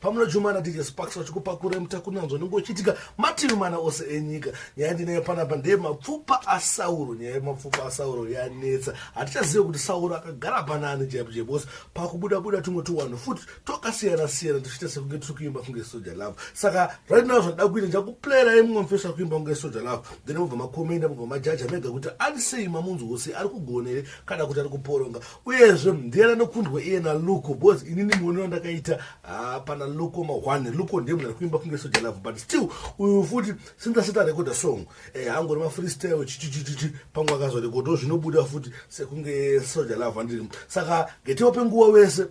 pamuna jumana dj sparks vachikupakura mutakunanzwa nenge uchiitika mativi mana ose enyika nyaya ndinayo panapa ndeye mapfupa asauro nyaya yemapfupa asauro yanetsa hatichazive kuti sauro akagara panaani jaipo jaibose pakubuda buda tumwe tuwanhu futi tokasiyana siyana tichiita sekunge tiri kuimba kunge soja love saka right now zvandida kuita ndichakuplayirai mumwe mufeso akuimba kunge soja love then mubva makomenda mubva majaja mega kuti anisei mamunzwose ari kugona here kana kuti ari kuporonga uyezve ndiani anokundwa iye naluko bcause inini muonero ndakaita ah, pana luko mahwane luko ndiye munhu ari kuimba kunge soja love but still uyu futi since asati arekoda song eh, angori mafreestyle chichichichichi pamwe akazorekodawo zvinobuda futi sekunge soja love andiri saka getiwa penguva wese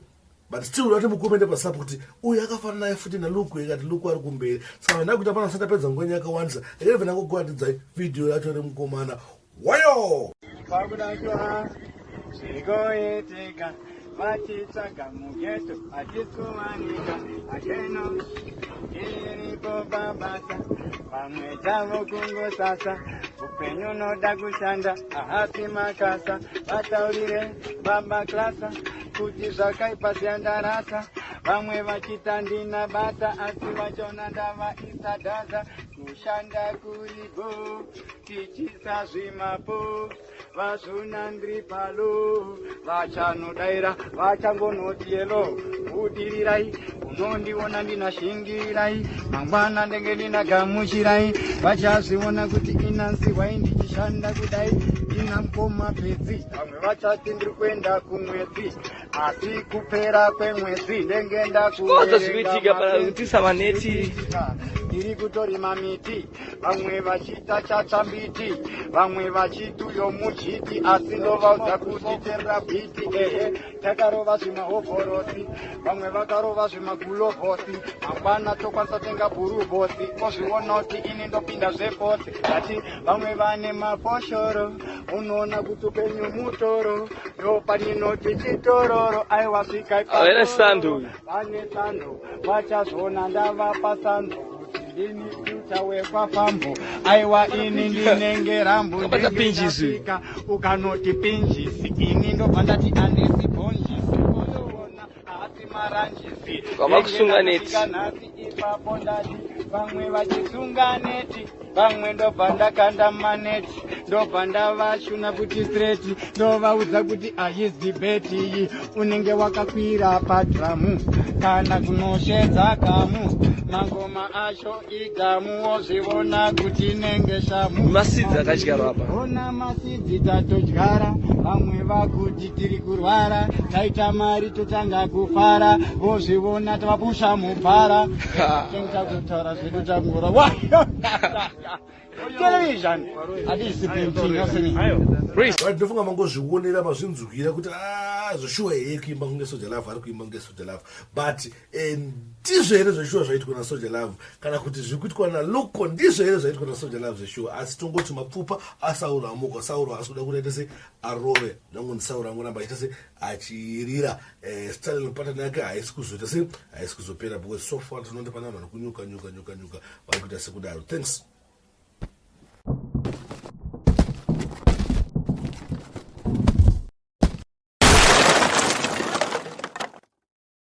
but still vati mukomende pasapo kuti uyu akafanana naye futi naluku ikati luku ari kumberi saka vana kuita pana satapedza ngwenye yakawandisa ere vana kukuatidzai vhidhiyo yacho ri mukomana wayo zvigoiteka vatitsvaga mugeto hatisuwanika akeno iripo pabasa vamwe tavo kungosasa upenyu unoda kushanda ahapi makasa vataurire baba klasa kuti zvakaipa zviya ndarasa vamwe vachita ndina basa asi vachona ndavaisa data kushanda kuri bo tichisa zvimapo vazvuna ndri palo vachanodaira vachangonoti yelo budirirai unondiona ndina shingirai mangwana ndenge ndina gamuchirai vachazviona kuti inansi hwai ndichishanda kudai ina mkoma pedzi vamwe vachati ndiri kuenda kumwedzi asi kupera kwemwedzi ndenge ndakukozo zvikuitika pautisa vaneti ndiri kutorima miti vamwe vachiita chatsva mbiti vamwe vachiti uyo muchiti asi ndovaudza kuti terera bhiti ehe takarova zvimahovhorosi vamwe vakarova zvimagulovhosi mangwana tokwanisa tenga bhuruvhosi ozvionoti ini ndopinda zvefosi ati vamwe vane mafoshoro unoona kuti upenyu mutoro ndopaninoti chitororo aiwasvika Vane sando vachazviona ndavapa sando kuti ndini future wekwafambo aiwa ini ndinenge rambo Ukabata pinjisi. ndingasvika ukanoti pinjisi ini ndobva ndati andisi bhonjisi oyoona haasi maranjisi Wava kusunga neti. Ndenge ndasvika nhasi ipapo ndati vamwe vachisunga neti vamwe ndobva ndakanda maneti ndobva ndavashuna kuti streti ndovaudza kuti ayizi beti iyi unenge wakakwira padhamu kana kunoshedza gamu mangoma acho igamu wozvivona kuti inenge shamu masidzi akadyarwa apa Idzi tatodyara vamwe vakuti tiri kurwara taita mari totanga kufara vozvivona tavapusha mubhara tengtakutaura zvedu tangura television hatisi painting yosini ndinofunga mangozvionera mazvinzwira kuti ah, zvoshuwa here kuimba kunge soja love ari kuimba kunge soja love but eh, ndizvo here zveshuwa zvaitwa nasoja love kana kuti zviri kuitwa naluko ndizvo here zvaitwa nasoja love zveshuwa asi tongoti mapfupa asauro amuka sauro asi kuda kuita se arove nangu ndisauro angoramba achiita se achirira eh, stalin patani yake haisi kuzoita se haisi kuzopera because so far tinondi pana vanhu kunyuka nyuka nyuka nyuka vari kuita sekudaro thanks